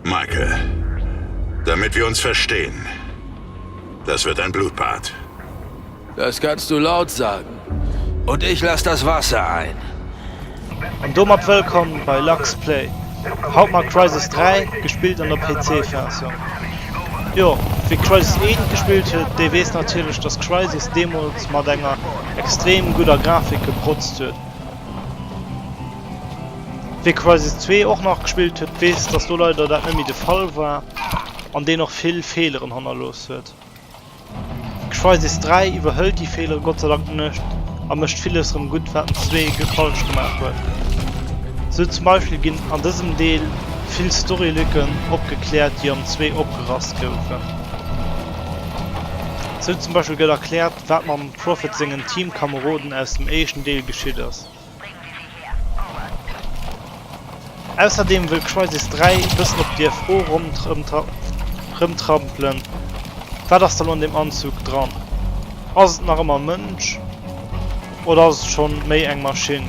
Michael, damit wir uns verstehen, das wird ein Blutbad. Das kannst du laut sagen. Und ich lass das Wasser ein. An domat wëllkomm bei Lux Play. Haut mat Crysis 3, gespillt an der PC Versioun. Jo, wee Crysis 1 gespillt huet, dee weess natierlech dass Crysis deemools mat enger extrem gudder Grafik geprotzt huet. Wee Crysis 2 och nachgespillt huet, weess dass do leider dat net méi de Fall war an deen och vill Feeleren hannerlooss huet. Crysis 3 iwwerhëlt déi Feelere Gott sei Dank net a mécht villes rëm gutt wat den Zwee falsch gemaach huet. Sou zum Beispill ginn an dësem Deel vill Storylücken opgekläert déi am Zwee opgerasst goufen. Sou zum Beispill gëtt erkläert wat mam Prophet sengen Teamkameroden aus dem éischten Deel geschitt ass. Ausserdeem wëll Crysis 3 e bëssen op dir Fro rëmtrampelen, Wat ass da lo an deem Anzug dran? Ass et nach ëmmer e Mënsch oder ass et schonn méi eng Maschinn?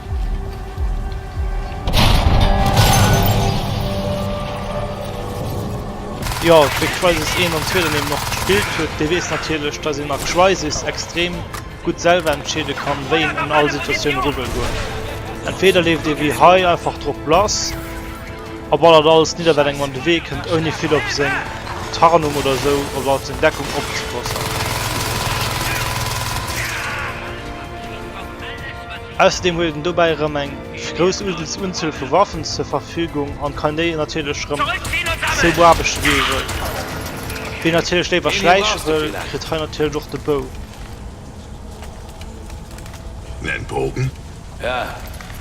Jo, wéi Crysis 1 an 2 dann eben och gespillt huet, dee weess natierlech, datt een a Crysis extrem gutt selwer entscheede kann, wéi een un all Situatioun eru wëll goen. Entweeder leeft ee wéi hei einfach drop lass a ballert alles nidder, wat engem an de Wee kënnt, ouni vill op seng Tarnung oder esou oder op seng Deckung opzepassen. Ausserdeem huet en dobäi erëm eng grouss Unzuel vu Waffen zur Verfügung an kann déi natierlech erëm sou beaarbechten wéi e wëll. Wien natierlech léiwer schläiche wëll, kritt hei natierlech och de Bou. Nen Pogen? Ja,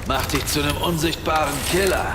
mach dich zu nem unsichtbaren Killer!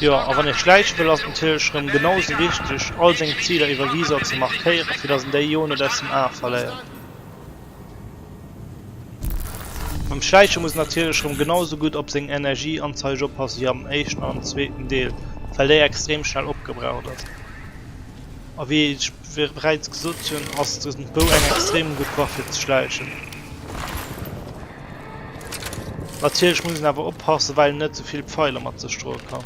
Jo, a wann ee schläiche wëll, ass et natierlech erëm genau sou wichteg, all seng Ziler iwwer Visor ze markéieren, fir datt en déi jo net aus dem Ae verléiert. Beim Schläiche muss en natierlech erëm genau sou gutt op seng Energieanzeige oppasse wéi am éischten an am zweeten Deel, well déi extrem schnell opgebraucht ass. A wéi ech bereits gesot hunn, ass dësen Pou eng extrem gutt Waff fir ze schläichen. Natierlech muss een awer oppassen well een net zevill Pfeiler mat sech droe kann.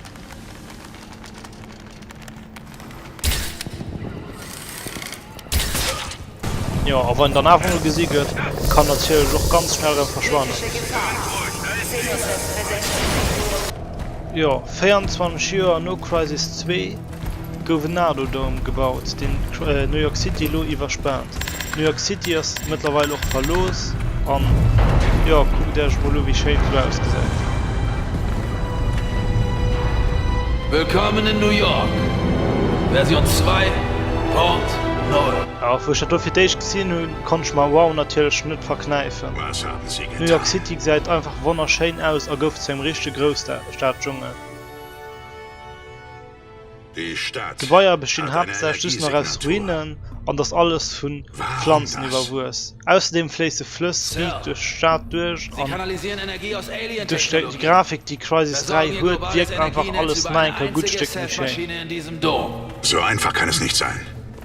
Jo a wann dann awer gesi gëtt, kann natierlech och ganz schnell rem verschwannen. Jo 24 Joer no Crysis 2. Gouf en Nardo Dome gebaut, deen New York City elo iwwerspaant. New York City ass mëttlerweil och verlooss an jo, kuckt Äech emol u wéi schéin et do ausgesäit. Willkommen in New York, Version 2.0. A wou ech dat do fir d'éischt gesinn hunn, konnt ech mer wow natierlech net verknäifen. New York City gesäit einfach wonnerschéin aus a gouf zu engem richtege Grousstad-Dschungel. D'Gebaier bestinn haaptsächlech just nach aus Ruinen an ass alles vu Planzen iwwerwuess. Ausserdeem fléisse Flëss riicht duerch d'Stad duerch an duerch déi Grafik déi Crysis 3 huet wierkt einfach alles nach eng Kéier gutt Stéck méi schéin.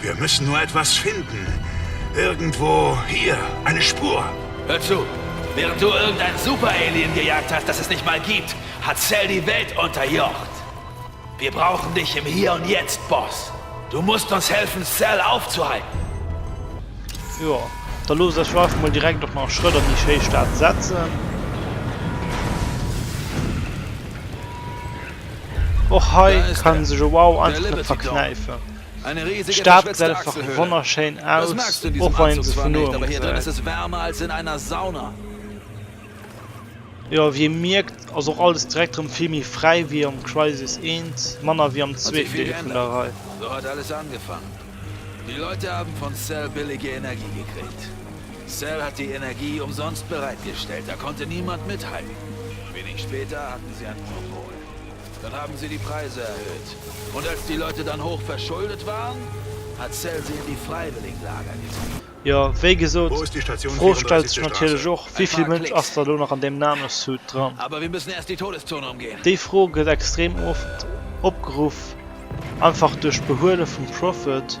Wir müssen nur etwas finden. Irgendwo hier, eine Spur. Hör zu! Während du irgendein Super-Alien gejagt hast, das es nicht mal gibt, hat Cell die Welt unterjocht. Wir brauchen dich im Hier und Jetzt, Boss. Du musst uns helfen, Cell aufzuhalten. Jo, da loosst eis jo einfach mol direkt och nach Schrëtt an déi schéi Stad setzen. Och hei kann sech e Wow einfach net verknäifen. D'Stad gesäit einfach wonnerschéin aus, och wann een se vun noem gesäit. Jo, wéi ee mierkt ass och alles direkt rëm vill méi fräi wéi am Crysis I, manner wéi am zweeten Deel vun der Rei. Dann haben sie die Preise erhöht und als die Leute dann hoch verschuldet waren, hat Cell sie in die Freiwilligenlager getrieben. Jo, wéi gesot, d'Fro stellt sech natierlech och, Wéi vill Mënsch ass da elo nach an deem Nano-Suit dran? Déi Fro gëtt extrem oft opgeruff, einfach duerch d'Behuele vum Prophet,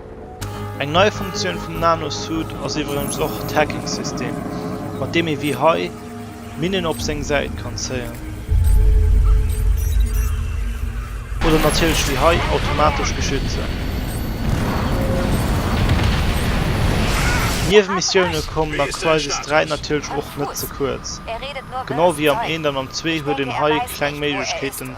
Eng nei Funktioun vum Nanosuit ass iwwregens och d'Hacking-System, mat deem ee wéi hei Minnen op seng Säit kann zéien. Oder natierlech wéi hei automatesch beschützen. D'Niewemissioune kommen a Crysis 3 natierlech och net ze kuerz. Genau wéi am 1 an am 2 huet een hei kleng Méiglechkeeten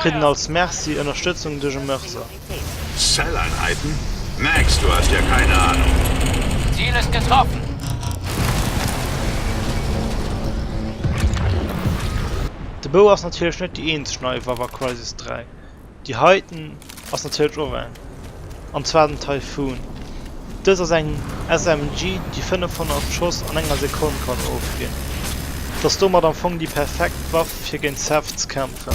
Kritt en als Merci Ënnerstëtzung duerch e Mörser. Zelleinheiten? Max, du hast ja keine Ahnung. Ziel ist getroffen! De Beau ass natierlech net déi eenzeg nei Waff a Crysis 3, déi heiten. Ass natierlech och eng. An zwar den Typhoon. Dëst ass eng SMG déi 500 Schoss an enger Sekonn kann ofginn. Et ass domat am Fong déi perfekt Waff fir géint Seth ze kämpfen.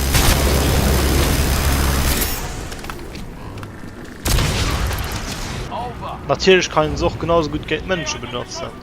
Natierlech kann een se och genau sou gutt géint Mënsche benotzen.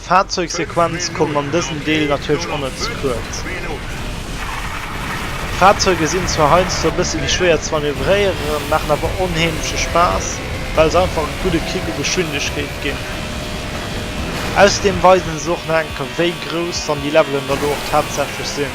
D'Fahrzeugsequenz kommen an dësem Deel natierlech onnëtz kuerz. D'Fahrzeuge sinn zwar heiansdo e bësse méi schwéier ze manövréieren, maachen awer onheemleche Spaass, well se einfach e gudde Kick u Geschwindegkeet ginn. Ausserdeem weisen se och nach eng Kéier, wéi grouss dann déi Levelen dann elo och tatsächlech sinn.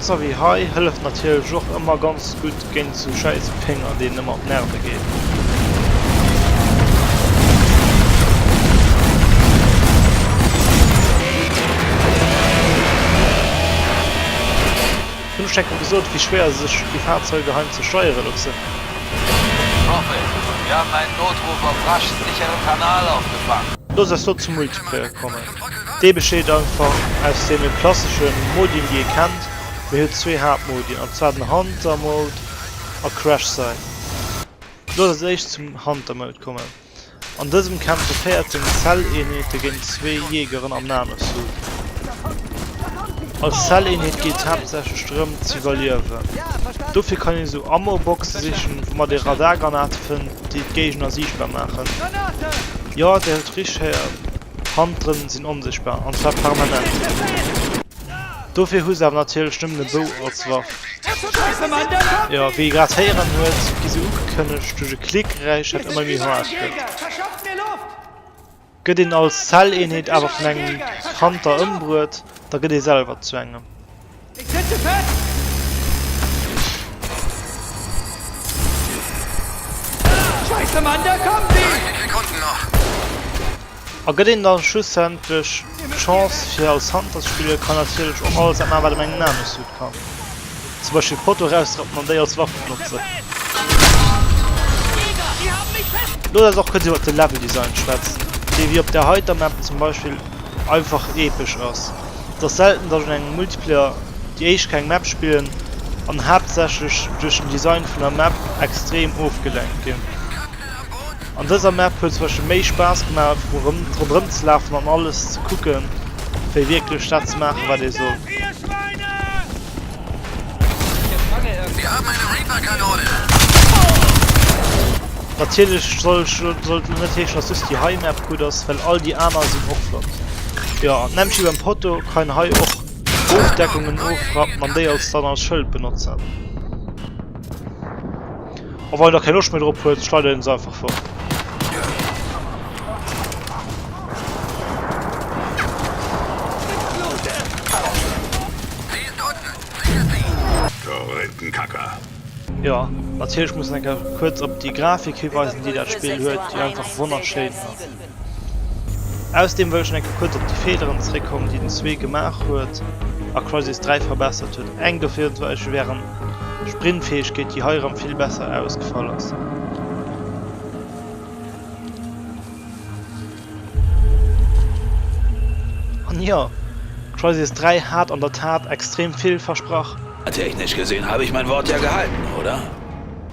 Sorry hei hëlleft natierlech och ëmmer ganz gutt géint esou schäiss Péng an deen ëmmer op d'Nerve geet. Hunn ech denken gesot wéi schwéier sech déi Fahrzeuge heim ze steiere loossen? Sorry, wir haben einen Notruf auf Rasch sicheren Kanal aufgefangen. Los eis lo zum Multiplayer kommen. Dee besteet einfach aus deene klassesche Modien, déi ee kennt. Mee huet zwee Haaptmodien, an zwar den Hunter Mode a Crash Site. Looss eis éischt zum Hunter Mode kommen. An dësem kämpfe 14 Cell-Eenheete géint zwee Jeegeren am Nanosuit. Als Cell-Eenheet geet et haaptsächlech drëm z'iwwerliewen. Dofir kann een esou Ammo-Boxe sichen, woumat ee Radargranate fënnt, déi d'Géigner siichtbar maachen. Jo, Dir hutt richteg héiert. Hand drënn sinn onsichtbar, an zwar permanent. Dofir hu se awer natierlech nëmmen e Bou als Waff. Jo, wéi ee grad héieren huet, gi se ugekënnegt duerch e Klickgeräisch, dat ëmmer méi haart gëtt. Gëtt een als Zelleenheet awer vun engem Hunter ëmbruet, da gëtt ee selwer zu engem. Ech setze fest! Scheiße, Mann, da kommen sie! 30 Sekunden noch! A gëtt een dann schlussendlech d'Chance fir als Hunter ze spillen, kann natierlech och alles dat man erwaart op engem Nano Suit kann. Zum Beispill Foto erausrappen an déi als Waff benotzen. Looss eis och kuerz iwwert de Level Design schwätzen, dee wéi op der heiter Map zum Beispill einfach epesch ass. Et ass selten datt ech an engem Multiplayer déi éischt keng Map spillen an haaptsächlech duerch den Design vun der Map extrem ofgelenkt ginn. An dëser Map huet zum Beispill méi Spaass gemaach einfach ronderëm ze lafen an alles ze kucken, fir wierklech dat ze maachen wat ee soll. Natierlech sollt lo net heeschen, dass just déi hei Map gutt ass, well all déi aner sinn och flott. Jo, an d'Nempshi beim Potto kann hei och Ofdeckungen ofrappen an déi als dann als Schëld benotzen. A wann een da keng Loscht méi drop huet, schleidert een se einfach fort. Jo, natierlech muss een enker kuerz op déi Grafik hiweisen, déi dat Spill huet, déi einfach wonnerschéin ass. Ausdeem wëll ech enke kuerz op déi Feeleren zeréckkommen, déi den zwee gemaach huet a Crysis 3 verbessert huet. Eng dovir war ech wären Sprintfäegkeet, déi hei erëm vill besser ausgefall ass. An jo, Crysis 3 hat an der Tat extrem vill versprach. Technisch gesehen habe ich mein Wort ja gehalten, oder?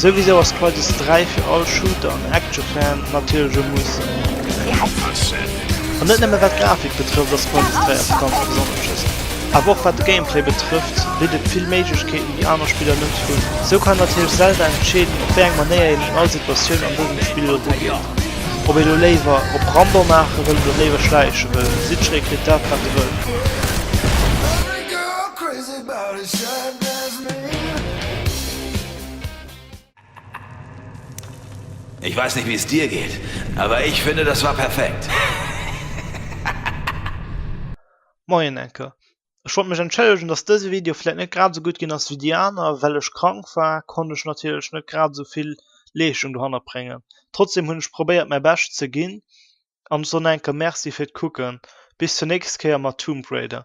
Souwisou ass Crisis 3 fir all Shooter an Action Fan natierlech e Muss. An net nëmmen wat d'Grafik betrëfft ass Crisis 3 eppes ganz Besonnesches, awer och wat de Gameplay betrëfft bitt et vill Méiglechkeeten déi aner Spiller net hunn. Sou kann natierlech Zelda entscheeden op wéi eng Manéier een un all Situatioun an dësem Spill erugeet. Ob ee lo léiwer op Rambo maache wëll oder léiwer schläiche wëll, sichreekrigtdatwateewëll. Ech weis nit wéi's dir geet, awer ech fënne dass war perfekt. Moien Anke, ech wollt mech entschëllegen dass dëse Video vläit net grad esou gutt ginn ass wéi déi aner. Well ech krank war, konnt ech natierlech net grad esou vill Leeschtung dohannert bréngen. Trotzdem hunn ech probéiert mäi Bescht ze ginn an ech soen Anke Merci fir d'Kucken. Bis zur nächst Kéier mat Tomb Raider.